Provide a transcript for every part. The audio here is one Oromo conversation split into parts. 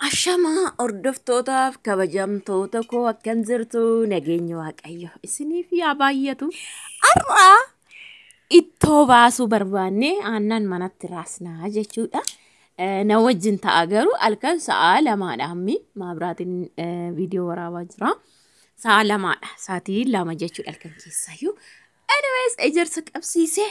Ashamaa hordoftootaaf kabajamtoota koo akkan jirtu nageenya waaqayyo isiniif yaa baay'atu. Har'a ittoo baasuu barbaanne aannan manatti raasnaa jechuudha. Eh, Na wajjin ta'a garuu halkan sa'a lamaadha ammi maabiraatiin eh, viidiyoo waraabaa jira. Sa'a lamaadha sa'aatii lama jechuudha halkan keessaayyuu. Anyways ejersa qabsiisee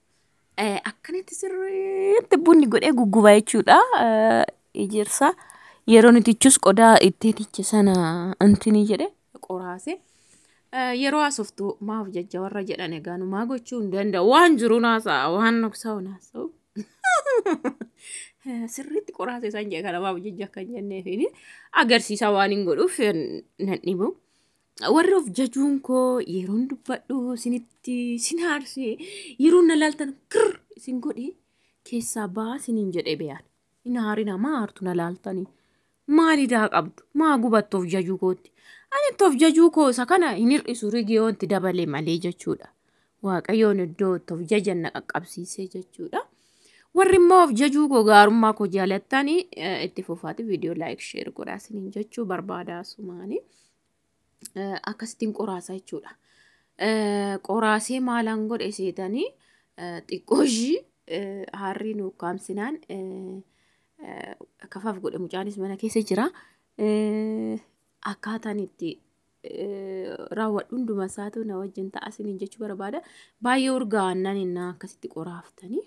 Akkanatti sirriitti bunni godhee gugguba jechuudha. Ejersa yeroo nuti ichus qodaa itti tiche sana antini jedhe qoraase. Yeroo haasoftu maaf jajja warra jedhan egaa numaa gochuu hin danda'u waan jiru naasa waan nuksaa'u naasa'u. Sirriitti qoraase isaan jedhe kana maaf jajja akka hin jenneefiin agarsiisa waan hin godhuuf nan dhibu. Warri of jajuun koo yeroon dubbadhu isinitti sin haarsee yeroo na laaltan kirr isin godhe keessaa baa isiniin jedhee beekan. Hin haarina maa haartu na laaltanii. Maal idaa qabdu maa gubattu of jajuu kootti. Ani itti of jajuu koo isa kana hin hir'isu rigiyoon itti dabale malee jechuudha. Waaqayyoon iddoo itti of jajan na qaqqabsiisee jechuudha. Warri immoo of jajuu koo gaarummaa koo jaalattanii eh, itti fufaati viidiyoo laayik sheer godhaa isiniin jechuu barbaada sumaanii. eh, akkasittiin qoraasa jechuudha. Eh, Qoraasee maalaan godhe seetanii eh, xiqqoo ishii eh, haarrii nu ukkaamsinaan eh, eh, kafaaf godhe mucaanis mana keessa jira. Eh, Akkaataan itti eh, raawwadhu hunduma isaatu na wajjin ta'a isiniin jechuu barbaada. Baay'ee urgaa'annaan innaa akkasitti qoraaftanii.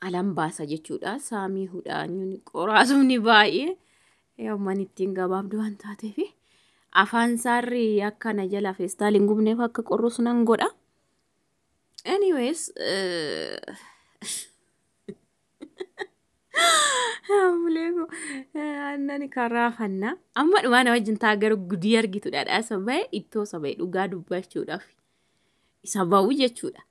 alan baasa jechuudha saamii hudhaanyuun qoraasuun baay'ee yoomman ittiin gabaabdu waan taateef afaan saarri akka na jala feestaal hin gubneef akka qorrus nan godha anyways Amuleeko aannan karaa fannaa amma dhumaa na wajjin taa garuu gudii argitudha dhaasa bahe ittoo saba'e dhugaa dubbachuudhaaf isa ba'u jechuudha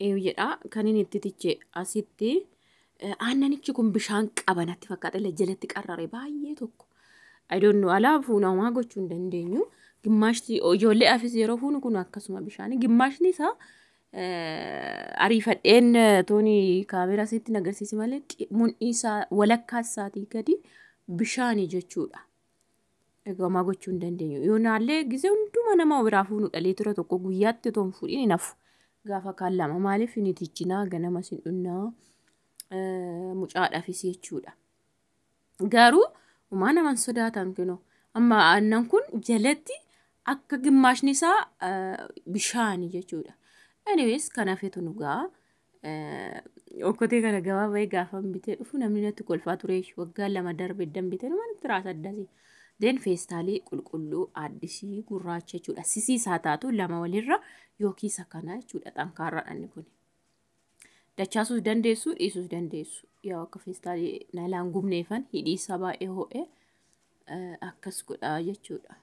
Eeyu jedha kan inni itti tiche asitti aannanichi kun bishaan qaba natti fakkaata illee jalatti qarrare baay'ee tokko. I don't know alaa fuuna homaa gochuu hin dandeenyu. Gimmaashti ijoollee afis yeroo fuunu kun akkasuma bishaanii gimmaashni isaa eh, ariifadheen eh, tooni kaameeraa sitti nagarsiisi malee qi- mudhii isaa walakkaa isaatii gadi bishaani jechuudha. Egaa gochuu hin dandeenyu. Yoo naallee gisee hunduma nama biraa fuunu dhalee tura tokko guyyaatti otoo hin fuudhin hin hafu. Gaafa kaan lama maaliif hin itiichinaa ganamas hin dhunnaa mucaadhaafis jechuudha. Garuu umaa naman sodaatan kunoo amma aannan kun jalatti akka gimmaashni isaa bishaani jechuudha. Anyways kanaafetu dhugaa Okkotee kana gabaa bahee gaafan bitee dhufu namni natti kolfaa ture waggaa lama darbe eddan bitee nama natti raasa addasii. Deen feestaalii qulqulluu addisii gurraacha jechuudha. Sisii isaa taatu lama walirra yookiis akkana jechuudha xankaarraa dhanni kun. Dachaasuus dandeessu dhiisuus dandeessu. Yaa akka feestaalii naalaan gubneefan hidhii isaa baay'ee ho'ee akkas godhaa jechuudha.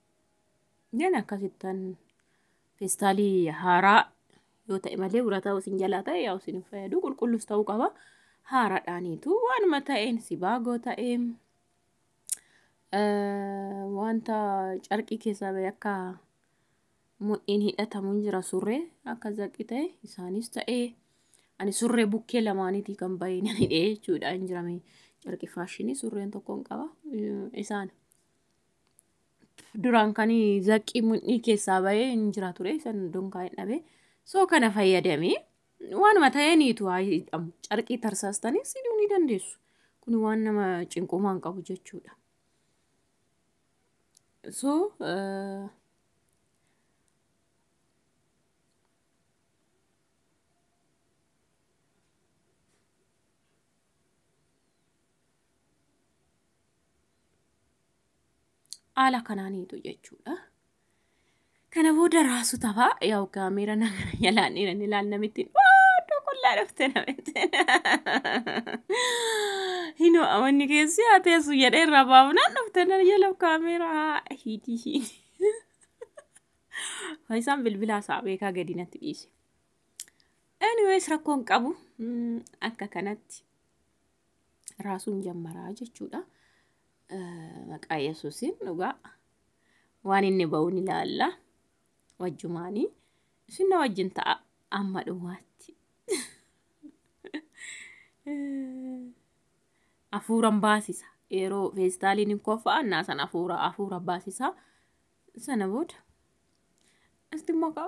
Jan akkasittan feestaalii haaraa yoo ta'e malee urataa isin jalaa ta'e yaa isin hin fayyadu qulqullus ta'uu qaba haaraadhaaniitu waanuma ta'een sibaagoo ta'ee eh, wanta carqii keessaa ba'e akka mudhiin hidhatamu hin jira surree akka zaqii ta'e isaanis ta'ee ani surree bukkee lamaaniitii kan ba'e nan hidhee jechuudha hin jirame carqii faashinii surreen tokkoon qaba eh, isaan. duraan kan zaqqii mudhii keessaa bahee hin jira ture san dunkaa hin dhabe soo kana fayyadamee waanuma ta'eeniitu haa hidhamu carqii tarsaastanii siduu ni dandeessu kun waan nama cinqumaa hin qabu jechuudha soo haala kanaaniitu jechuudha. Kana booda raasu tafa yaa'u kaameera na gara jalaan dhiiran ilaal namittiin waaduu qullaa dhufte namittiin. Hinoo amanni keessi haa teessu jedhee irraa baafnaan dhufte na jala kaameera haa hiitii hiitii. Faayisaan bilbilaa isaa beekaa gadi natti dhiise. Anyways rakkoon qabu mm, akka kanatti raasuun jammaraa jechuudha. Maqaa Yesuusiin dhugaa waan inni ba'uun ilaalla. Wajjumaanii isin na wajjin ta'a amma dhumaatti. Afuuran baasisa. Yeroo feestaaliin hin koffa'an naa sana afuura afuura baasisa. Sana booda itti maqaa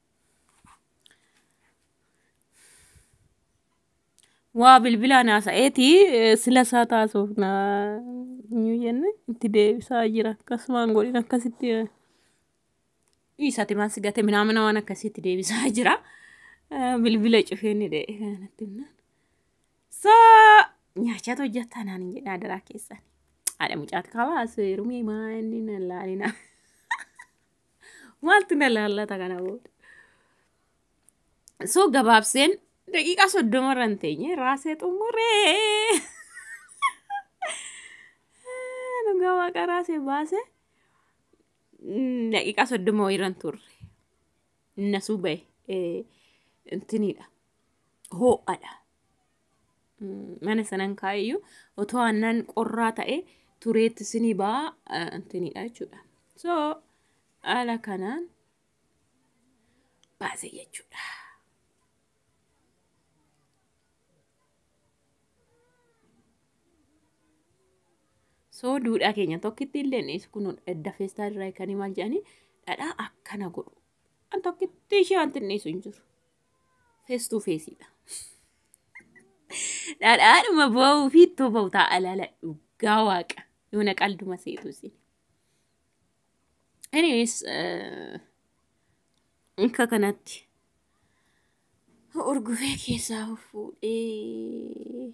waa bilbilaan haasa'eeti eh, sila isaa taasuuf na hin jenne itti deebisaa jira akkasumaan godhin akkasitti eh, dhiisati maan sigate minaamina waan akkasitti deebisaa jira Eh, bilbila cufee ni dha'e kanatti himnaan saa nyaachaatu hojjattaa naan hin jedhaa daraa keessan haadha mucaati kabaas rumee maa inni na laalina. Maaltu na laallata kana booda? So gabaabseen daqiiqaa soddoma irra hin teenye raasee xumuree. Dhugaa waaqa raasee baase mm, daqiiqaa soddoma wayii irra hin turre. Nasuu bahe. Eh, Intiniidha. Hoo'adha. mana sanan kaa'eyyuu otoo aannan qorraa ta'e tureetti sinii ba'a antinidha jechuudha. So haala kanaan baase jechuudha. So duudhaa keenya tokkitti illee dhiyeessu kun edda feestaa irraa kan maal jedhanii dhadhaa akkana godhu. An tokkitti ishee wanti dhiyeessu hin jiru. Face to face dha. Dhadhaadhuma boo'uu fi ittoo ba'u ta'a alaala dhugaa waaqa. Yoona qalduma seetu isin. Anyways, eh, akka kanatti urgufee keessaa of fuudhee.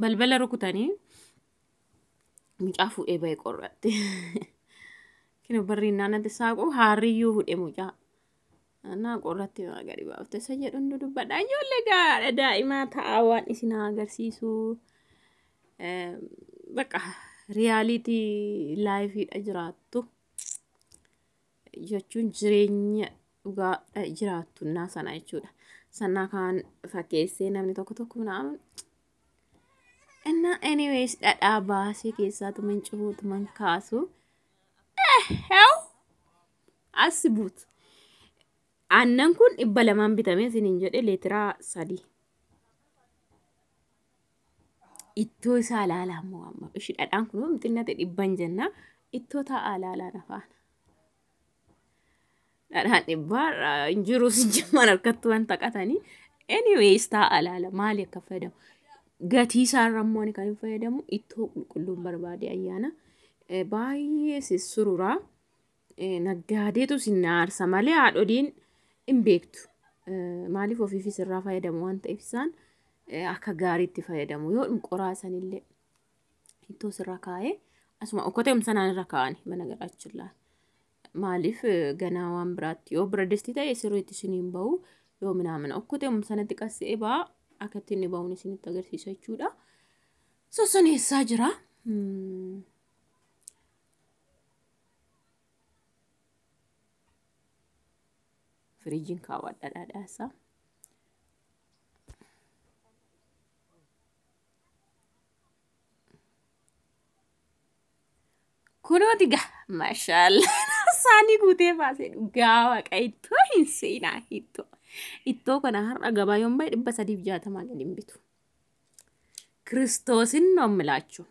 balbala rukutanii mucaa fuudhee ba'e qorraatti. Kino barri naannatti saaqu haarriyyuu hudhe mucaa. Naa qorratti maa gadi baafte isa jedhu hundu dubbadha. Ijoollee gaadha daa'imaa ta'a waan isin haa agarsiisu. Bakka riyaaliitii laayifiidha jiraattu. jechuun jireenya dhugaa eh, jiraattunnaa sana jechuudha. Sannaa kaan fakkeessee namni tokko tokko naan innaa anyways dhadhaa baasee keessaatu mancuutu man kaasu heew assi buutu. Aannan kun dhibba lamaan bitamee isiniin jedhe leetiraa sadii. ittoo isaa ilaalaa immoo amma ishi dhadhaan kun waan xinnate dhibban jenna ittoo taa'aa ilaalaa nafaan dhadhaan dhibbaa hin jiru si jimmaan harkatti waan taqatanii anyways taa'aa ilaala maali akka fayyadamu gatii isaa irra immoo ani kan hin fayyadamu ittoo qulqulluun barbaade ayyaana baay'ee sissururaa Naggaadeetu isin na aarsa malee haadholiin hin beektu. Maaliif ofiifis irraa fayyadamu waan ta'eef isaan akka gaariitti fayyadamu. Yoo qoraa sanillee ittoo sirra kaa'ee asuma okkotee umsanaan irra kaa'ani mana garaachillaa. Maaliif ganaa waan biraatti yoo bira distii ta'e sirriitti isin hin bahu yoo minaamina okkotee umsanatti qassee baa akka itti inni bahuun isinitti agarsiisa jechuudha. Sossoneessaa jira. firiijiin kaawwadha dhadhaasaa. Kunooti gaa mashaalla saanii guutee baasee dhugaa waaqa ittoo hin seenaa ittoo ittoo kana har'a gabaa yoon bahe dhibba sadiif jaatamaa gadi hin bitu. Kiristoosin noon milaachuu.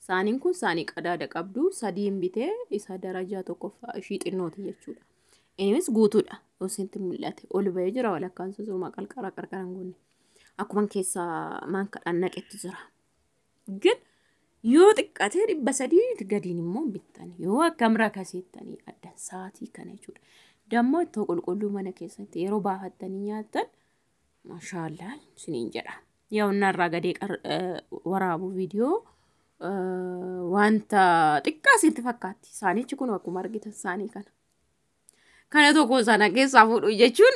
Saaniin kun saanii qadaada qabdu sadiin bitee isa darajaa tokkoffaa ishii xinnooti jechuudha. Innis guutuudha. Osinti mul'ate ol ba'ee jira walakkaan susuumaa qarqara qarqaraan guunne. Akkuma keessa maankadhaan naqetti jira. Gin yoo xiqqatee dhibba sadii gadiin immoo bittan yoo akkam rakasiittanii addan saatii kana jechuudha. Dammoo ittoo qulqulluu mana keessatti yeroo baafattanii nyaattan Mashallah sinin jedha. Yaa onnaa irraa gadee waraabu viidiyoo wanta xiqqaa sitti fakkaatti. Saanichi kun akkuma argitan saanii kana. Kana tokko sana keessaa fuudhu jechuun